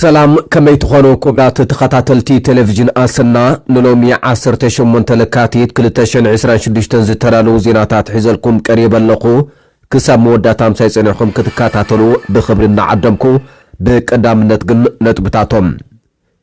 ሰላም ከመይ ትኾኑ ኩብራት ተኸታተልቲ ቴሌቪዥን ኣሰና ንሎሚ ዓሰርተ ሸሞንተ ለካቲት ክልተ ሽሕን ዕስራን ሽዱሽተን ዝተዳለዉ ዜናታት ሒዘልኩም ቀሪበ ኣለኹ ክሳብ መወዳእታ ምሳይ ፀኒዕኹም ክትከታተሉ ብኽብሪ እናዓደምኩ ብቀዳምነት ግን ነጥብታቶም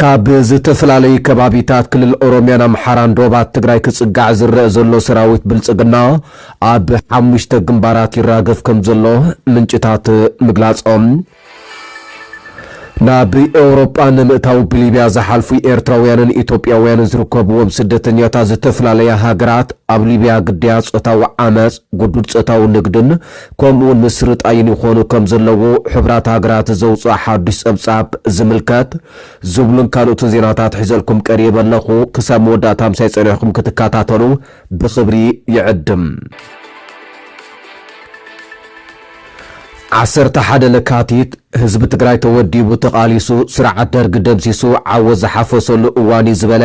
ካብ ዝተፈላለዩ ከባቢታት ክልል ኦሮሚያን ኣምሓራን ዶባት ትግራይ ክፅጋዕ ዝረእ ዘሎ ሰራዊት ብልፅግና ኣብ ሓሙሽተ ግንባራት ይራገፍ ከም ዘሎ ምንጭታት ምግላፆም ናብ ኤውሮጳ ንምእታው ብሊብያ ዝሓልፉ ኤርትራውያንን ኢትዮጵያውያንን ዝርከብዎም ስደተኛታት ዝተፈላለያ ሃገራት ኣብ ሊብያ ግዳያት ጾታዊ ዓመጽ፣ ግዱድ ጾታዊ ንግድን ከምኡ'ውን ምስርጣይን ይኾኑ ከም ዘለዉ ሕቡራት ሃገራት ዘውጽኦ ሓዱሽ ጸብጻብ ዝምልከት ዝብሉን ካልኦትን ዜናታት ሒዘልኩም ቀሪበ ኣለኹ። ክሳብ መወዳእታ ምሳይ ጸኒሕኩም ክትከታተሉ ብኽብሪ ይዕድም። ዓሰርተ ሓደ ለካቲት ህዝቢ ትግራይ ተወዲቡ ተቓሊሱ ስርዓት ደርጊ ደምሲሱ ዓወት ዝሓፈሰሉ እዋን እዩ ዝበለ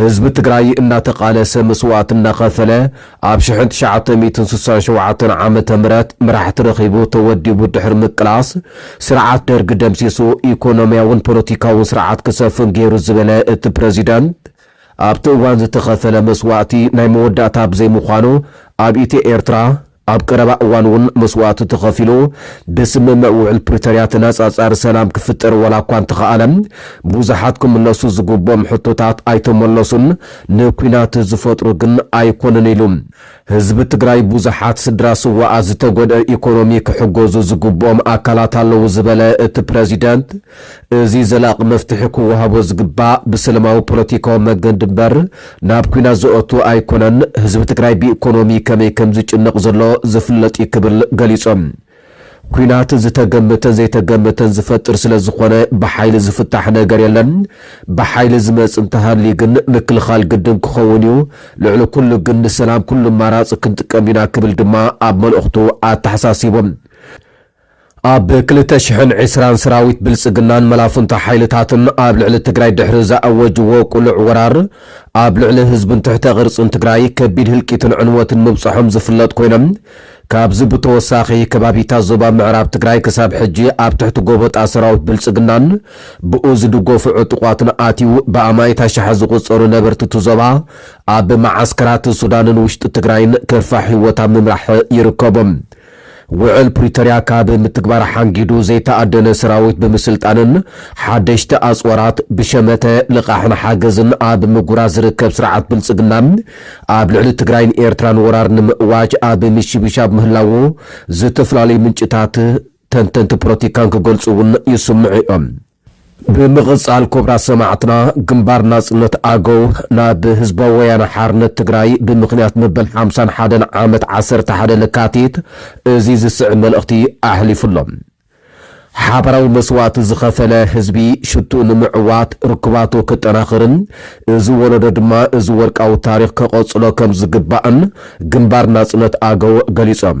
ህዝቢ ትግራይ እናተቓለሰ መስዋእቲ እናኸፈለ ኣብ ሽሕን ትሽዓተ ሚእትን ስሳን ሸውዓተን ዓመተ ምህረት መራሕቲ ረኺቡ ተወዲቡ ድሕሪ ምቅላስ ስርዓት ደርጊ ደምሲሱ ኢኮኖሚያውን ፖለቲካውን ስርዓት ክሰፍን ገይሩ ዝበለ እቲ ፕረዚደንት ኣብቲ እዋን ዝተኸፈለ መስዋእቲ ናይ መወዳእታ ብዘይምዃኑ ኣብ ኢትዮ ኤርትራ ኣብ ቀረባ እዋን እውን መስዋእቲ ተኸፊሉ ብስምምዕ ውዕል ፕሪቶርያ ተነፃፃሪ ሰላም ክፍጠር ዋላ እኳ እንተኸኣለ ብዙሓት ክምለሱ ዝግብኦም ሕቶታት ኣይተመለሱን፣ ንኲናት ዝፈጥሩ ግን ኣይኮኑን ኢሉ። ህዝቢ ትግራይ ብዙሓት ስድራ ስውኣት ዝተጎድኣ ኢኮኖሚ ክሕገዙ ዝግብኦም ኣካላት ኣለዉ ዝበለ እቲ ፕረዚደንት፣ እዚ ዘላቒ መፍትሒ ክወሃቦ ዝግባእ ብሰለማዊ ፖለቲካዊ መገንዲ እምበር ናብ ኲናት ዘእቱ ኣይኮነን። ህዝቢ ትግራይ ብኢኮኖሚ ከመይ ከምዝጭነቕ ዘሎ ዝፍለጥ እዩ ክብል ገሊፆም። ኲናት ዝተገመተን ዘይተገመተን ዝፈጥር ስለዝኾነ ብሓይሊ ዝፍታሕ ነገር የለን። ብሓይሊ ዝመፅእ እንተሃልዩ ግን ምክልኻል ግድን ክኸውን እዩ። ልዕሊ ኩሉ ግን ንሰላም ኩሉ ኣማራፂ ክንጥቀም ኢና ክብል ድማ ኣብ መልእኽቱ ኣተሓሳሲቡ። ኣብ ክልተ ሽሕን ዕስራን ስራዊት ብልፅግናን መላፍንቶ ሓይልታትን ኣብ ልዕሊ ትግራይ ድሕሪ ዝኣወጅዎ ቁሉዕ ወራር ኣብ ልዕሊ ህዝብን ትሕተ ቅርፅን ትግራይ ከቢድ ህልቂትን ዕንወትን ምብፀሖም ዝፍለጥ ኮይኑ ካብዚ ብተወሳኺ ከባቢታት ዞባ ምዕራብ ትግራይ ክሳብ ሕጂ ኣብ ትሕቲ ጎበጣ ሰራዊት ብልፅግናን ብኡ ዝድጎፉ ዕጡቋትን ኣትዩ ብኣማኢት ኣሻሓት ዝቑፀሩ ነበርቲ እቲ ዞባ ኣብ መዓስከራት ሱዳንን ውሽጢ ትግራይን ከፋ ሂወት ኣብ ምምራሕ ይርከቡ። ውዕል ፕሪቶርያ ካብ ምትግባር ሓንጊዱ ዘይተኣደነ ሰራዊት ብምስልጣንን ሓደሽቲ ኣፅዋራት ብሸመተ ልቓሕን ሓገዝን ኣብ ምጉራዝ ዝርከብ ስርዓት ብልፅግና ኣብ ልዕሊ ትግራይን ኤርትራን ወራር ንምእዋጅ ኣብ ምሽብሻብ ምህላዉ ዝተፈላለዩ ምንጭታት ተንተንቲ ፖለቲካን ክገልፁ እውን ይስምዑ እዮም። ብምቕጻል ኩብራት ሰማዕትና ግንባር ናጽነት ኣገው ናብ ህዝባዊ ወያነ ሓርነት ትግራይ ብምኽንያት መበል ሓምሳን ሓደን ዓመት ዓሰርተ ሓደ ለካቲት እዚ ዝስዕብ መልእኽቲ ኣሕሊፉ ኣሎ። ሓባራዊ መስዋእቲ ዝኸፈለ ህዝቢ ሽትኡ ንምዕዋት ርክባቱ ክጠናኽርን እዚ ወለዶ ድማ እዚ ወርቃዊ ታሪኽ ከቐጽሎ ከም ዝግባእን ግንባር ናጽነት ኣገው ገሊጾም።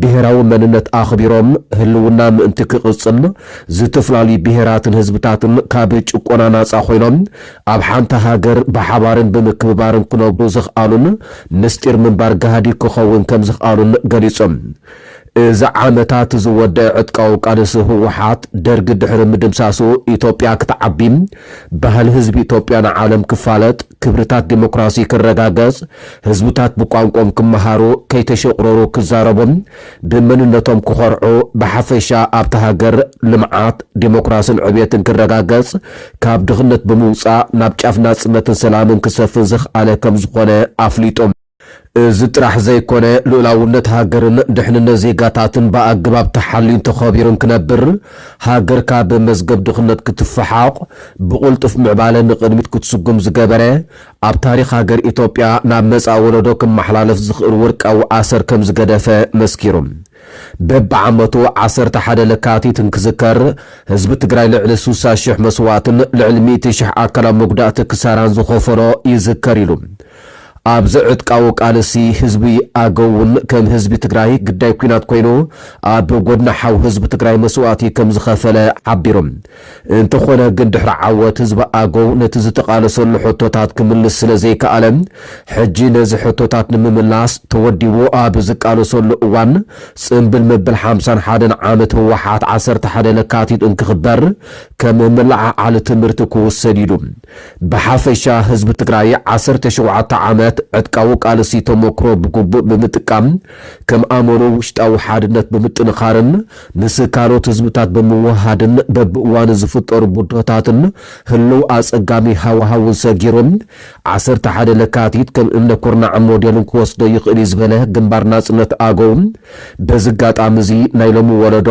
ብሄራዊ መንነት ኣኽቢሮም ህልውና ምእንቲ ክቕፅል ዝትፍላልዩ ብሄራትን ህዝብታትን ካብ ጭቆና ናፃ ኮይኖም ኣብ ሓንቲ ሃገር ብሓባርን ብምክብባርን ክነብሩ ዘኽኣሉን ምስጢር ምንባር ጋህዲ ክኸውን ከምዝኽኣሉን ገሊፆም። እዚ ዓመታት ዝወደኣ ዕጥቃዊ ቃልሲ ህወሓት ደርጊ ድሕሪ ምድምሳሱ ኢትዮጵያ ክትዓቢ ባህሊ ህዝቢ ኢትዮጵያ ንዓለም ክፋለጥ፣ ክብርታት ዲሞክራሲ ክረጋገጽ፣ ህዝብታት ብቋንቆኦም ክመሃሩ፣ ከይተሸቑረሩ ክዛረቡን ብመንነቶም ክኾርዑ፣ ብሓፈሻ ኣብታ ሃገር ልምዓት፣ ዲሞክራስን ዕብየትን ክረጋገጽ፣ ካብ ድኽነት ብምውጻእ ናብ ጫፍ ናጽነትን ሰላምን ክሰፍን ዘኽኣለ ከምዝኾነ ኣፍሊጡ። እዚ ጥራሕ ዘይኮነ ልኡላውነት ሃገርን ድሕንነት ዜጋታትን ብኣገባብ ተሓልዩን ተኸቢሩን ክነብር፣ ሃገር ካብ መዝገብ ድኽነት ክትፈሓቑ፣ ብቕልጡፍ ምዕባለ ንቕድሚት ክትስጉም ዝገበረ፣ ኣብ ታሪኽ ሃገር ኢትዮጵያ ናብ መጻኢ ወለዶ ክመሓላለፍ ዝኽእል ወርቃዊ ኣሰር ከምዝገደፈ መስኪሩ። በቢዓመቱ ዓሰርተ ሓደ ለካቲት እንክዝከር ህዝቢ ትግራይ ልዕሊ ስሳ ሽሕ መስዋእትን ልዕሊ ሚእቲ ሽሕ ኣካላዊ መጉዳእቲ ክሳራን ዝኸፈሎ ይዝከር ኢሉ። ኣብዚ ዕጥቃዊ ቃልሲ ህዝቢ ኣገው እውን ከም ህዝቢ ትግራይ ግዳይ ኲናት ኮይኑ ኣብ ጎድኒ ሓው ህዝቢ ትግራይ መስዋእቲ ከምዝኸፈለ ሓቢሩ። እንተኾነ ግን ድሕሪ ዓወት ህዝቢ ኣገው ነቲ ዝተቓለሰሉ ሕቶታት ክምልስ ስለዘይከኣለ ሕጂ ነዚ ሕቶታት ንምምላስ ተወዲቡ ኣብ ዝቃለሰሉ እዋን ጽምብል መበል ሓምሳን ሓደን ዓመት ህወሓት ዓሰርተ ሓደ ለካቲት እንክኽበር ከም መለዓዓሊ ትምህርቲ ክውሰድ ኢሉ ብሓፈሻ ህዝቢ ትግራይ ዓሰርተ ሸውዓተ ዓመት ዕጥቃዊ ቃልሲ ተሞክሮ ብግቡእ ብምጥቃም ከም ኣመሩ ውሽጣዊ ሓድነት ብምጥንኻርን ምስ ካልኦት ህዝብታት ብምውህሃድን በብእዋኑ ዝፍጠሩ ብድሆታትን ህልው ኣጸጋሚ ሃዋህውን ሰጊሩ ዓሰርተ ሓደ ለካቲት ከም እምነ ኩርናዕን ሞዴልን ክወስዶ ይኽእል'ዩ ዝበለ ግንባር ናጽነት ኣገው በዚ ኣጋጣሚ'ዚ ናይ ሎሚ ወለዶ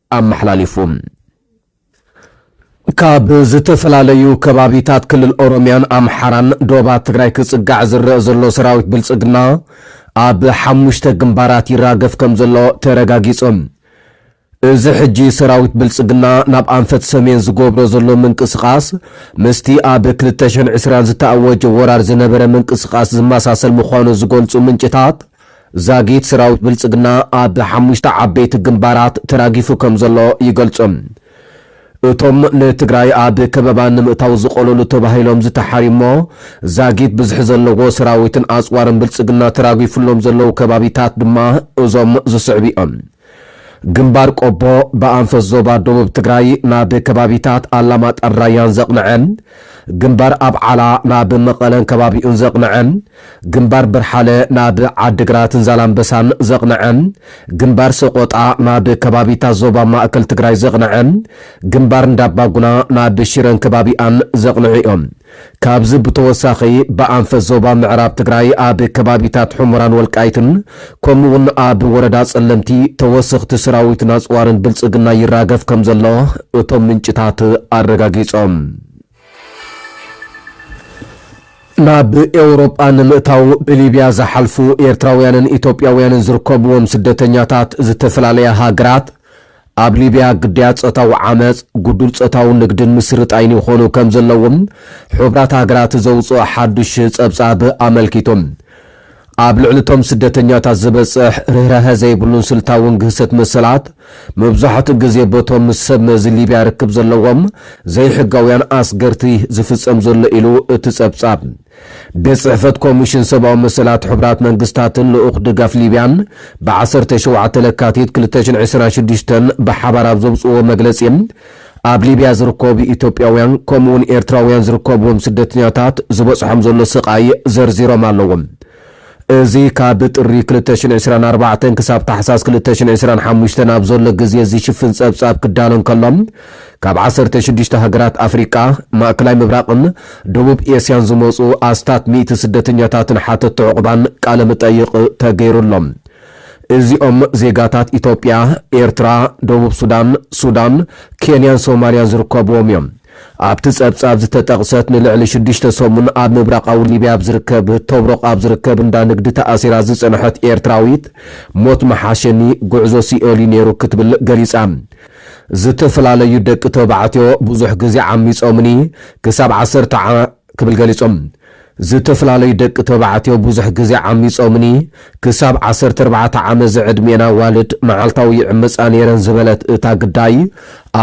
ኣመሓላሊፉ። ካብ ዝተፈላለዩ ከባቢታት ክልል ኦሮሚያን ኣምሓራን ዶባት ትግራይ ክፅጋዕ ዝረእ ዘሎ ሰራዊት ብልፅግና ኣብ ሓሙሽተ ግንባራት ይራገፍ ከም ዘሎ ተረጋጊፁ። እዚ ሕጂ ሰራዊት ብልፅግና ናብ ኣንፈት ሰሜን ዝገብሮ ዘሎ ምንቅስቓስ ምስቲ ኣብ ክልተ ሽሕን ዕስራን ዝተኣወጀ ወራር ዝነበረ ምንቅስቓስ ዝመሳሰል ምዃኑ ዝገልፁ ምንጭታት ዛጊት ሰራዊት ብልጽግና ኣብ ሓሙሽተ ዓበይቲ ግንባራት ተራጊፉ ከምዘሎ ይገልጹ። እቶም ንትግራይ ኣብ ከበባ ንምእታው ዝቐለሉ ተባሂሎም ዝተሓርዩ'ሞ ዛጊት ብዝሒ ዘለዎ ሰራዊትን ኣጽዋርን ብልጽግና ተራጊፉሎም ዘለዉ ከባቢታት ድማ እዞም ዝስዕቡ'ዮም። ግንባር ቆቦ ብኣንፈት ዞባ ደቡብ ትግራይ ናብ ከባቢታት ኣላማጣን ራያን ዘቕንዐ፣ ግንባር ኣብዓላ ናብ መቐለን ከባቢኡን ዘቕንዐ፣ ግንባር በርሓለ ናብ ዓዲግራትን ዛላምበሳን ዘቕንዐ፣ ግንባር ሰቖጣ ናብ ከባቢታት ዞባ ማእከል ትግራይ ዘቕንዐ፣ ግንባር እንዳባጉና ናብ ሽረን ከባቢኣን ዘቕንዑ እዮም። ካብዚ ብተወሳኺ ብኣንፈት ዞባ ምዕራብ ትግራይ ኣብ ከባቢታት ሑመራን ወልቃይትን ከምኡ እውን ኣብ ወረዳ ፀለምቲ ተወሰኽቲ ሰራዊትን ኣፅዋርን ብልፅግና ይራገፍ ከም ዘሎ እቶም ምንጭታት ኣረጋጊፆም። ናብ ኤውሮጳ ንምእታው ብሊብያ ዝሓልፉ ኤርትራውያንን ኢትዮጵያውያንን ዝርከብዎም ስደተኛታት ዝተፈላለያ ሃገራት ኣብ ሊብያ ግዳያት ጾታዊ ዓመጽ፣ ጉዱል ጾታዊ ንግድን ምስርጣይን ይኾኑ ከም ዘለዉ ሕቡራት ሃገራት ዘውጽኦ ሓዱሽ ጸብጻብ ኣመልኪቱ። ኣብ ልዕሊ እቶም ስደተኛታት ዝበጽሕ ርህራሀ ዘይብሉን ስልታውን ግህሰት መሰላት፣ መብዛሕትኡ ግዜ በቶም ምስ ሰብ መዚ ሊብያ ርክብ ዘለዎም ዘይሕጋውያን ኣስገርቲ ዝፍጸም ዘሎ ኢሉ እቲ ጸብጻብ። ቤት ጽሕፈት ኮሚሽን ሰብኣዊ መሰላት ሕቡራት መንግስታትን ልኡኽ ድጋፍ ሊብያን ብ ዓሰርተ ሸውዓተ ለካቲት ክልተ ሽሕን ዕስራን ሽዱሽተን ብሓባር ኣብ ዘውጽእዎ መግለጺ፣ ኣብ ሊብያ ዝርከቡ ኢትዮጵያውያን ከምኡ'ውን ኤርትራውያን ዝርከብዎም ስደተኛታት ዝበጽሖም ዘሎ ስቓይ ዘርዚሮም ኣለዉ። እዚ ካብ ጥሪ ክልተ ሽሕ ዕስራን ኣርባዕተን ክሳብ ታሕሳስ ክልተ ሽሕ ዕስራን ሓሙሽተን ኣብ ዘሎ ግዜ ዝሽፍን ጸብጻብ ክዳሎ እንከሎ፣ ካብ ዓሰርተ ሽዱሽተ ሃገራት ኣፍሪቃ፣ ማእከላይ ምብራቕን ደቡብ ኤስያን ዝመጹ ኣስታት ሚእቲ ስደተኛታትን ሓተቲ ዑቕባን ቃለ-ምጠይቕ ተገይሩሎም። እዚኦም ዜጋታት ኢትዮጵያ፣ ኤርትራ፣ ደቡብ ሱዳን፣ ሱዳን፣ ኬንያን ሶማልያን ዝርከብዎም እዮም። ኣብቲ ጸብጻብ ዝተጠቕሰት ንልዕሊ ሽዱሽተ ሰሙን ኣብ ምብራቓዊ ሊብያ ኣብ ዝርከብ ቶብሮቕ ኣብ ዝርከብ እንዳ ንግዲ ተኣሲራ ዝጸንሐት ኤርትራዊት፣ ሞት ምሓሸኒ፣ ጉዕዞ ሲኦል'ዩ ነይሩ ክትብል ገሊጻ። ዝተፈላለዩ ደቂ ተባዕትዮ ብዙሕ ግዜ ዓሚጾምኒ፣ ክሳብ ዓሰርተ ክብል ገሊጾም። ዝተፈላለዩ ደቂ ተባዕትዮ ብዙሕ ግዜ ዓሚጾምኒ፣ ክሳብ ዓሰርተ ኣርባዕተ ዓመት ዝዕድሜኤን ኣዋልድ መዓልታዊ ይዕመጻ ነይረን ዝበለት እታ ግዳይ፣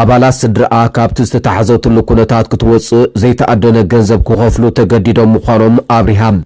ኣባላት ስድርኣ ካብቲ ዝተታሕዘትሉ ኩነታት ክትወጽእ ዘይተኣደነ ገንዘብ ክኸፍሉ ተገዲዶም ምዃኖም ኣብሪሃ።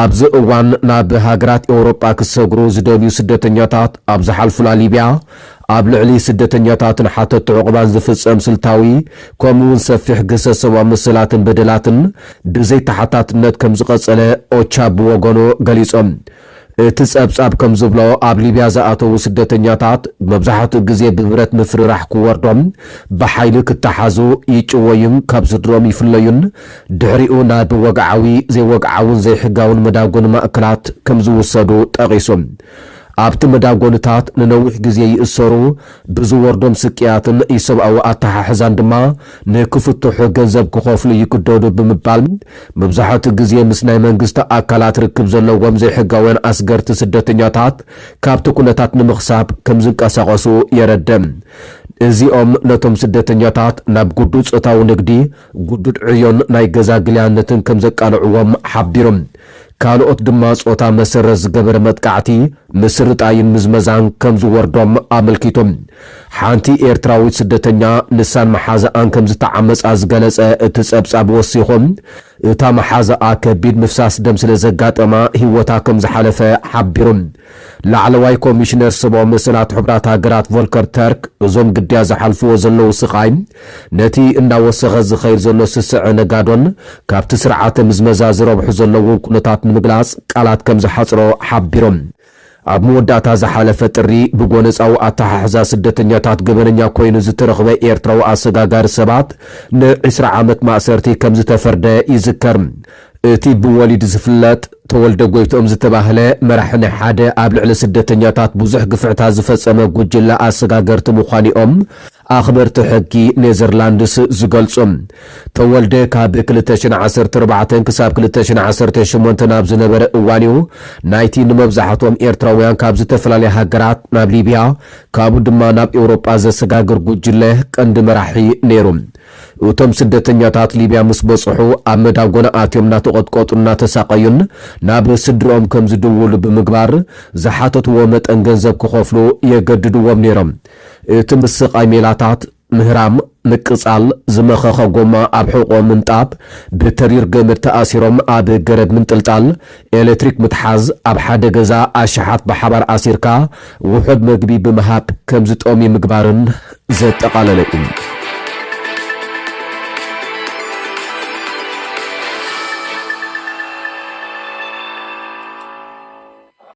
ኣብዚ እዋን ናብ ሃገራት ኤውሮጳ ክሰግሩ ዝደልዩ ስደተኛታት ኣብ ዝሓልፉላ ሊብያ፣ ኣብ ልዕሊ ስደተኛታትን ሓተቲ ዑቕባን ዝፍጸም ስልታዊ ከምኡ'ውን ሰፊሕ ግህሰት ሰብኣዊ መሰላትን በደላትን ብዘይ ተሓታትነት ከም ዝቐጸለ ኦቻ ብወገኑ ገሊጹ። እቲ ጸብጻብ ከም ዝብሎ፣ ኣብ ሊብያ ዝኣተዉ ስደተኛታት መብዛሕትኡ ግዜ ብብረት ምፍርራሕ ክወርዶም፣ ብሓይሊ ክተሓዙ፣ ይጭወዩን ካብ ስድርኦም ይፍለዩን ድሕሪኡ ናብ ወግዓዊ፣ ዘይወግዓውን ዘይሕጋውን መዳጎኒ ማእከላት ከም ዝውሰዱ ጠቒሱ፣ ኣብቲ መዳጎኒታት ንነዊሕ ግዜ ይእሰሩ፣ ብዝወርዶም ስቅያትን ኢሰብኣዊ ኣተሓሕዛን ድማ ንክፍትሑ ገንዘብ ክኸፍሉ ይግደዱ ብምባል መብዛሕትኡ ግዜ ምስ ናይ መንግስቲ ኣካላት ርክብ ዘለዎም ዘይሕጋውያን ኣስገርቲ ስደተኛታት ካብቲ ኩነታት ንምኽሳብ ከም ዝንቀሳቐሱ የረድእ። እዚኦም ነቶም ስደተኛታት ናብ ግዱድ ጾታዊ ንግዲ ግዱድ ዕዮን ናይ ገዛ ግልያነትን ከም ዘቃልዕዎም ሓቢሮም። ካልኦት ድማ ፆታ መሰረት ዝገበረ መጥቃዕቲ፣ ምስርጣይን ምዝመዛን ከም ዝወርዶም ኣመልኪቶም። ሓንቲ ኤርትራዊት ስደተኛ ንሳን መሓዝኣን ከም ዝተዓመፃ ዝገለፀ እቲ ፀብፃብ ወሲኹ፣ እታ መሓዝኣ ከቢድ ምፍሳስ ደም ስለ ዘጋጠማ ህይወታ ከም ዝሓለፈ ሓቢሩ። ላዕለዋይ ኮሚሽነር ሰብኣዊ መሰላት ሕቡራት ሃገራት ቮልከር ተርክ፣ እዞም ግዳያት ዝሓልፍዎ ዘለዉ ስቓይ፣ ነቲ እናወሰኸ ዝኸይድ ዘሎ ስስዐ ነጋዶን ካብቲ ስርዓተ ምዝመዛ ዝረብሑ ዘለዉን ኩነታት ንምግላጽ ቃላት ከም ዝሓጽሮ ሓቢሮም። ኣብ መወዳእታ ዝሓለፈ ጥሪ፣ ብጎነጻዊ ኣተሓሕዛ ስደተኛታት ገበነኛ ኰይኑ ዝተረኽበ ኤርትራዊ ኣሰጋጋሪ ሰባት ን ዕስራ ዓመት ማእሰርቲ ከም ዝተፈርደ ይዝከር። እቲ ብወሊድ ዝፍለጥ ተወልደ ጎይትኦም ዝተባህለ መራሒ ናይ ሓደ ኣብ ልዕሊ ስደተኛታት ብዙሕ ግፍዕታት ዝፈጸመ ጉጅለ ኣሰጋገርቲ ምዃኑ'ዮም ኣኽበርቲ ሕጊ ኔዘርላንድስ ዝገልጹ። ተወልደ ካብ ክልተ ሽሕን ዓሰርተ ኣርባዕተን ክሳብ ክልተ ሽሕን ዓሰርተ ሸሞንተን ኣብ ዝነበረ እዋን'ዩ ናይቲ ንመብዛሕትኦም ኤርትራውያን ካብ ዝተፈላለያ ሃገራት ናብ ሊብያ ካብኡ ድማ ናብ ኤውሮጳ ዘሰጋግር ጉጅለ ቀንዲ መራሒ ነይሩ። እቶም ስደተኛታት ሊብያ ምስ በጽሑ ኣብ መዳጎና ኣትዮም እናተቐጥቀጡን እናተሳቐዩን ናብ ስድርኦም ከም ዝድውሉ ብምግባር ዝሓተትዎ መጠን ገንዘብ ክኸፍሉ የገድድዎም ነይሮም። እቲ ምስቓይ ሜላታት፣ ምህራም፣ ምቅጻል፣ ዝመኸኸ ጎማ ኣብ ሕቖኦም ምንጣብ፣ ብተሪር ገመድ ተኣሲሮም ኣብ ገረብ ምንጥልጣል፣ ኤሌክትሪክ ምትሓዝ፣ ኣብ ሓደ ገዛ ኣሽሓት ብሓባር ኣሲርካ ውሑድ መግቢ ብምሃብ ከም ዝጠምዩ ምግባርን ዘጠቓለለ እዩ።